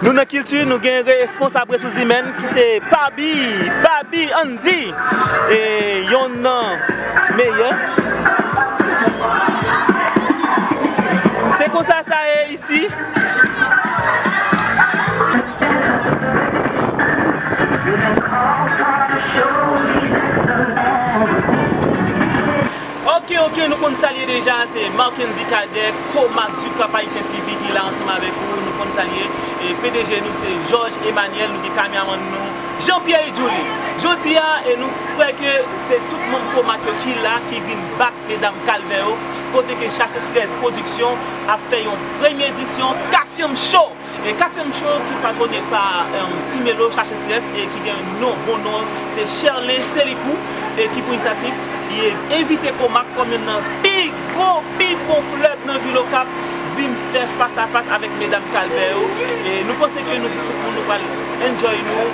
Nou nan kilti nou gen responsab resous imèn ki se Pabi, Babi Andy e yonn nan meyè. Se konsa sa ye isi. Ok ok nou konn sal ye deja se Marckendy Cadet co Marc Ducap Haïtien TV ki la ansanm avèk ou nou konn sal ye e pdg nou se Georges Emmanuel nou gen kamyamann nou Jean Pierre Idouli jodi a e nou kwè ke se tout manm co Marc yo ki la ki vin back medam kalvè yo kote ke chasse stress production ap fè yon premye edisyon katyèm cho! E katyèm cho ki patwone pa Ti Melo chache stress e ki gen non bon non se Sherley Célicou e ki pou inisyativ li envite Komak kòm youn nan pi gwo pi bon klèb nan vil Okap vin fè fas a fas avèk medam Kalbè yo e nou panse ke nou di tout moun nou pral enjoy nou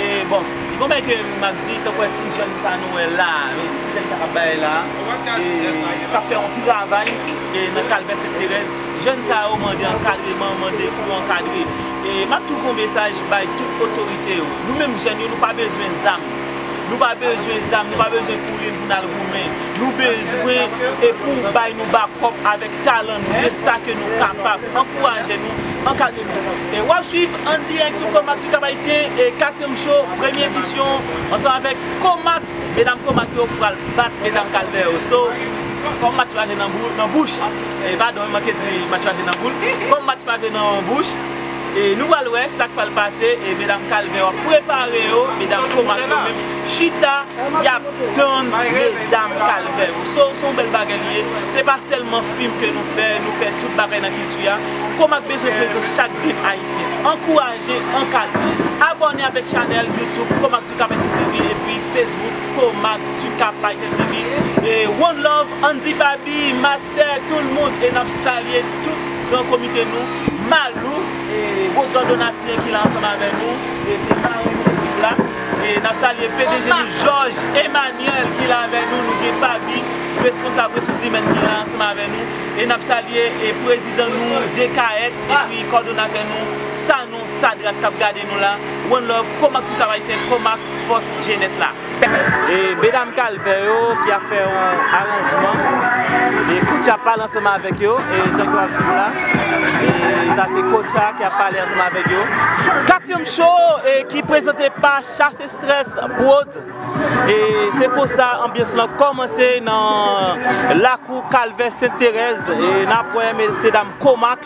e bon gon bagay ke map di tankou wè ti jèn sa nou wè la ti jèn sa kap bay la e kap fè yon travay e nan Kalbè Sent Terèz. Jèn sa yo mande ankadreman, mande pou ankadre. E m ap tou fè yon mesaj bay tout otorite yo. Nou menm jèn yo nou pa bezwen zam. Nou pa bezwen zam, nou pa bezwen kouri pou n al goumen. Nou bezwen e pou ou bay nou bakòp avèk talan nou, de sa ke nou kapab. Ankouraje nou, ankadre nou. E w ap swiv an dirèk sou Comac sou Cap Haïtien, e katyèm cho, premye edisyon, ansanm avèk Comac. Medam Comac yo pral bat Medam Calvaire yo so Kom match pa gen nan bouch Padon m manke di match pa gen nan boul Kom match pa gen nan bouch Nou pral wè sak pral pase Medam Calvaire yo ap prepare yo Medam Comac yo menm chita yap tann Medam Calvaire yo So son bel bagay li ye Se pa selman fim ke nou fè Nou fè tout bagay nan kilti a Comac bezwen prezans chak grenn ayisyen Ankouraje, ankadre Abone avek chanel youtube Comac. Tukap ST TV epi Facebook Comac Tukap Haitien TV e one love Andy Baby Master tout moun e nap salye tout gran komite nou Malou e Roselot Donatien ki la ansanm avè nou e se marenn nou pou jou la e nap salye pdg nou Jòj Emanyèl ki la avè nou nou gen Fabi responsab resous imèn ki la ansanm avè nou e nap salye e prezidan nou Dekayèt epi kòdonatè nou Sanon. Sadrak kap gade nou la. One love komak sou kav ayisyen komak fos jenes la. E medam kalvè yo ki ap fè yon aranjman e koutcha ap pale ansanm avèk yo e jan ke wap suiv la e sa se koutcha ki ap pale ansanm avèk yo. Katyem show e ki prezante pa chasse stress prod e se konsa anbyans lan kòmanse nan lakou kalvè sent terèz e nap wè mesye dam komak.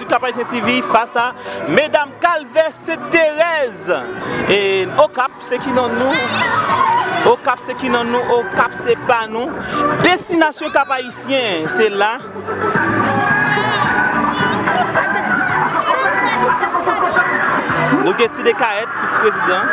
Cap Haïtien TV fas a medam kalvè sent terèz e okap se ki nan nou okap se ki nan nou okap se pa nou destinasyon cap haïtien se la nou gen ti dekayèt pou prezidan.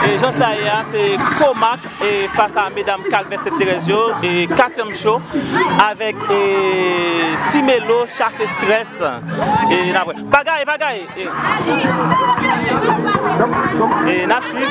E jan sa ye a se komak. Fas a medam kalvè sent terèz yo katyèm cho avèk ti melo chase strès pa gaye pa gaye nap swiv.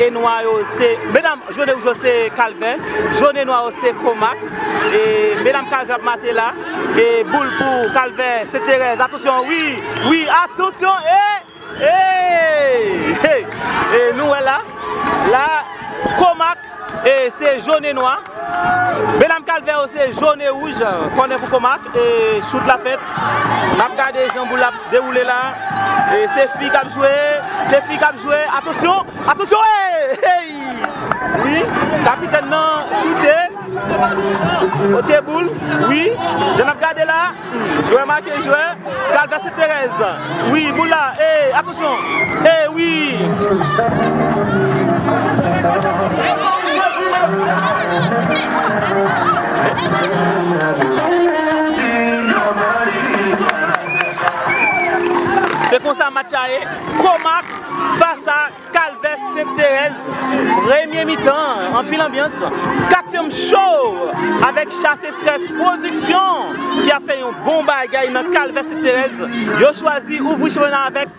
E nwa yo se, medam, jone wouj yo se kalvè, jone nwa yo se komak, e medam kalvè ap mate la, e boul pou kalvè se terèz, atansyon wi, wi, atansyon e, e, e, e nou wè la, la, komak, e se jone nwa, medam kalvè yo se jone wouj, kònè pou komak, e chout la fèt, n ap gade jan boul la ap. Dewoule la e se fi kap jwe, se fi kap jwe, atansyon, atansyon eeyy eyy wi kapitèn nan choute ok boul wi jan nap gade la jwè make jwè kalvè seterèz wi boul la eeyy atansyon eeyy wi Se konsa match la ye, Komak fas a Kalvè Sent Terèz, premye mitan anpil anbyans, katyèm cho avèk Chase Estrès Pwodiksyon ki ap fè yon bon bagay nan Kalvè Sent Terèz, yo chwazi ouvri chanpyona avèk.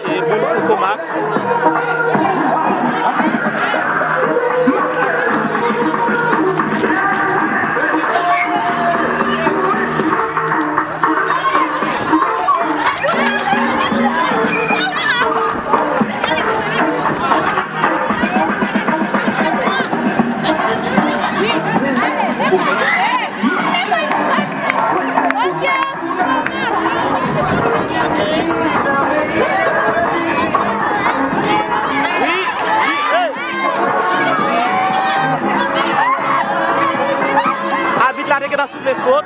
E boul pou Komak. Abit la te gentan soufle fot.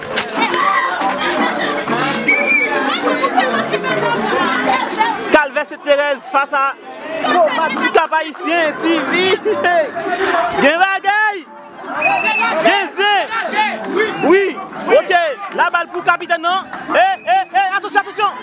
Kalvè Sent Terèz fas a Kombat Ti Kap Ayisyen TV Gen bagay! Gen zen! Wi! Ok! Labal pou kapitèn nan! Ey! Ey! Ey! Atansyon! Atansyon!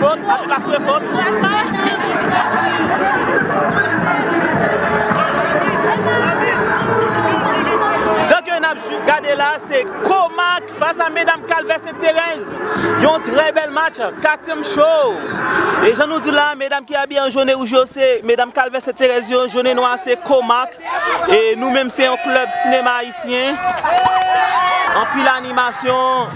Fot, anpil la swe fot. Jan ke nap gade la se Komak fas a medam kalvè sent terèz yon trè bèl match katyèm show e jan nou di la medam ki abiye an jone wouj yo se medam kalvè sent terèz yo jone nwa se Komak e nou menm se yon klèb sinema ayisyen anpil animasyon.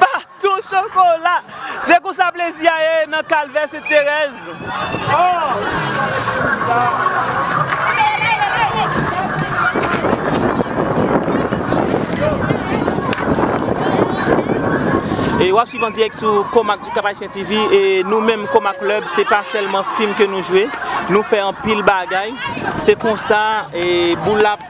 Patou chokola! Se konsa plezi a ye nan Kalvè Sent Terèz. E wap swiv an dirèk sou Komak du Cap Haïtien TV e nou menm Komak Club se pa sèlman fim ke nou jwe, nou fè anpil bagay. Se konsa boul la ap.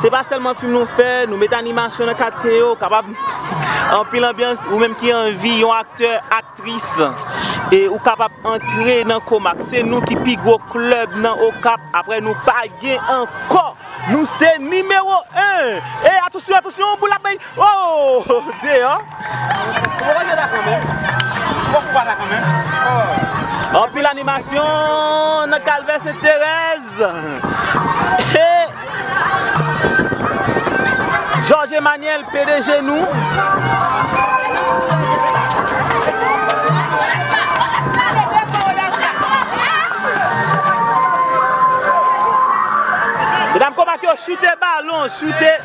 Se pa sèlman fim nou fè, nou met animasyon nan katye yo, kapab anpil anbyans, ou menm ki anvi yon aktè, aktris ou kapab antre nan Komak, se nou ki pi gwo klèb nan Okap, aprè nou pa gen ankò, nou se nimewo 1, e atosyon atosyon yon boul ap bay ooh deyò. Anpil animasyon nan kalvè senterèz. George Emmanuel pdg nou. Mesdames comment yo chute ballon chute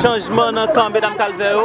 Chanjman nan kan medam kalvè yo.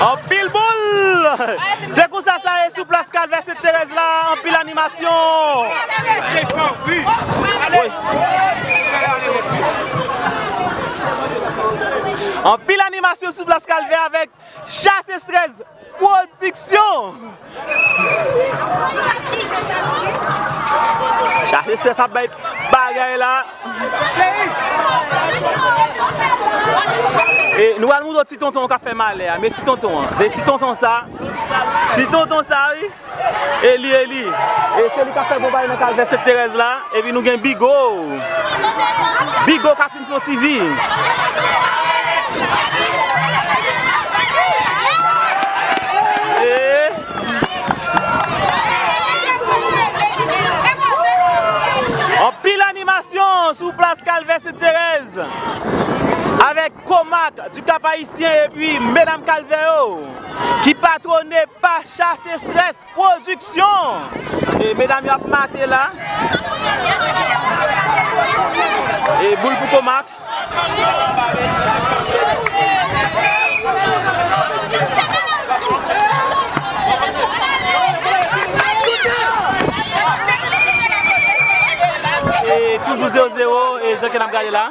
Anpil boul! Se konsa sa ye sou plas kalvè sent terèz la anpil animasyon. Anpil animasyon sou plas kalvè avèk Chass Estrès pwodiksyon. Chass Estrès ap bay bagay la. E nou pral moutre w ti tonton w kap fè malè a. Men ti tonton an. Se ti tonton sa. Ti tonton sa wi. Eli Eli e se li kap fè bon bagay nan kalvè sent terèz la epi nou gen bigo bigo katrin son ti vi. Anpil animasyon sou plas kalvè sent terèz avèk komak du kap ayisyen epi medam kalvè yo. Ki patwone pa Chass Estrès Pwodiksyon. E medam yo ap mate la. E boul pou tomat. E toujou 0 0 e jan ke n ap gade la.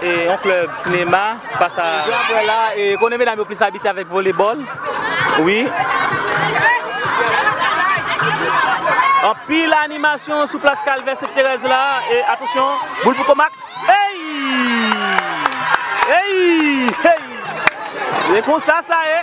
E yon club sinema fas a. Jan ap wè la e konnen medam yo plis abitye avèk volebòl wi. Anpil animasyon sou plas kalvè sent terèz la e atansyon boul pou komak eyy eyy eyy e konsa sa ye.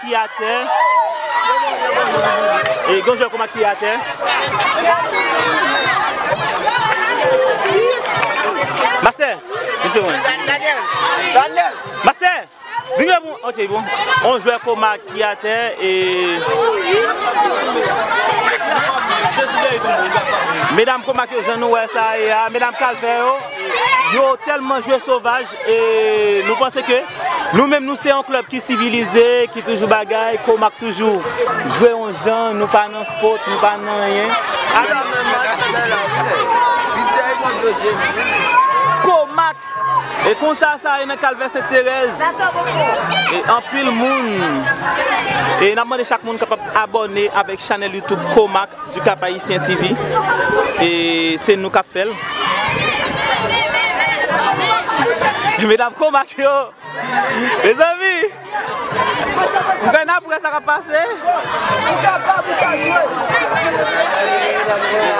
Ki atè e gon jwè koma ki atè. Mastè mesye mwen. Mastè vin jwe pou ok bon on jwè koma ki atè e medam koma ke jan nou wè sa ye a medam kalfè yo. Yo telman jwe sovaj e nou panse ke nou menm nou se yon klèb ki sivilize, ki toujou bagay, kou map toujou jwe yon jan, nou pa nan fot, nou pa nan anyen. Kou mak! E konsa sa ye nan kalvè sent terèz. E anpil moun. E nap mande chak moun kapab abòne avèk chanèl youtube kou mak. Du Cap Haïtien TV e se nou kap fèl. Medam Komak yo Mezanmi Nou kwè nap wè sa kap pase Nou kapab nou ka jwe Mezanmi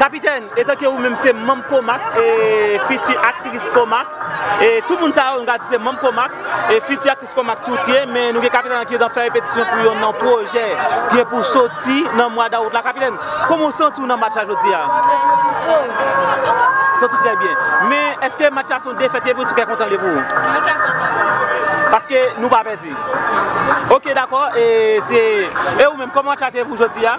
Kapitèn, etanke ou menm se manm Komak e fiti aktris Komak, e tout moun sa yo nou ka di se manm Komak e fiti aktris Komak tout ye, men nou gen Kapitèn la ki nan fè repetisyon pou youn nan pwojè ki gen pou soti nan mwa dawout la. Kapitèn, kòman ou santi w nan match la jodi a? Santi w trè byen. Santi w trè byen. Men, èske match la se yon defèt li ye pou ou se yon kè kontan li ye pou ou? Mwen kè kontan pou mwen. Paske nou pa pèdi? Non. Ok, dakò. E ou menm, kòman match la te ye pou ou jodi a?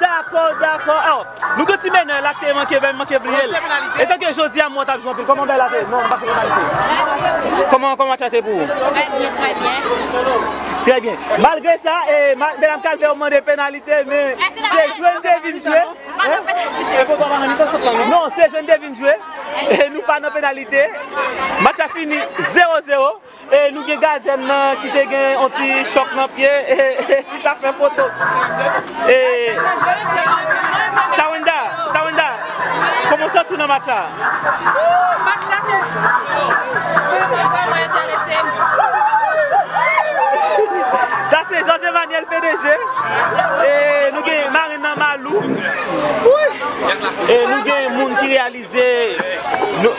Dakò dakò oh nou gen ti menè la ki manke vèm manke bliyel etan ke jodi a mwen tap jwe anpil koman bagay la te non pa fè penalite koman koman match la te pou ou trè byen trè byen trè byen malgre sa medam kalvè ou mande penalite men se jwe nou te vin jwe non se jwe nou te vin jwe e nou pa nan penalite match la fini 0 0. E nou gen gadyèn nan ki te gen yon ti chòk nan pye e li tap fè foto. E Tawenda, Tawenda, kòman w santi w nan match la? Ooh match la te vreman enterese m. Sa se George Emmanuel pdg e nou gen marenn nan Malou. Wouy! E nou gen moun ki reyalize. Se yon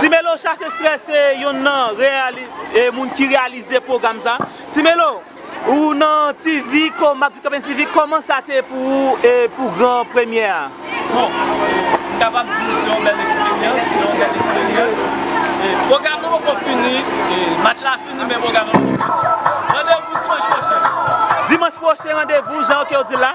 Ti melo chase stress se yonn nan reyalite moun ki reyalize pwogram sa Ti melo ou nan TV ko Marc Ducapin TV koman sa te pou ou e pou gran premyè a? Bon m kapab di se yon bèl eksperyans se yon bèl eksperyans pwogram nan poko fini match la fini men pwogram nan poko fini randevou dimanch pwochen. Dimanch pwochen randevou jan ok ou di la.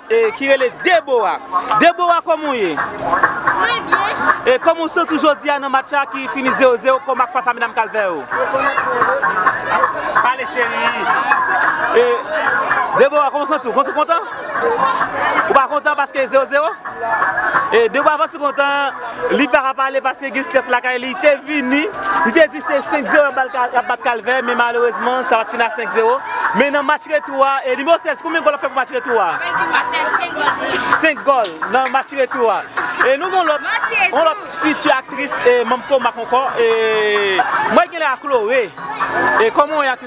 Ki rele Debora. Debora koman ou ye? Mwen byen. E koman ou santi w jodi a nan match la ki fini 0 0 kòm ak fas a medam kalvè yo? Pale cheri. E Debora koman ou santi w? Ou kontan? Ou pa kontan paske 0 0? E Debora paske kontan li paka pale paske gen strès lakay li te vini li te di. Se 5 zero yap bat kalvè men malerezman sa pat fini a 5 zero men nan match retou a nimewo 16 konbyen gòl wap fè pou match retou a? Map fè 5 gòl pou li. 5 gòl nan match retou a e nou gen yon lòt yon lòt fiti aktris manm Comac ankò e mwen genlè a Chloé e kòman ou ye aktris.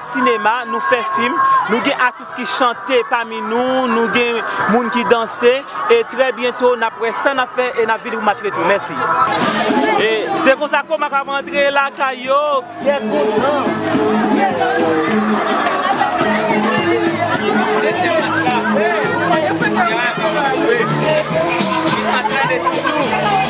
sinema, nou fè fim, nou gen atis ki chante pami nou, nou gen moun ki danse e trè byento n ap wè sa n ap fè e n ap vini pou match retou. Mèsi. E se konsa Komak ap antre lakay yo kè kontan. Dezyèm match la Komak ap antre a epi l ap jwe Miss Astride toujou.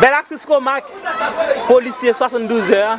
Bèl aktris ko mak polisye 72 zè a.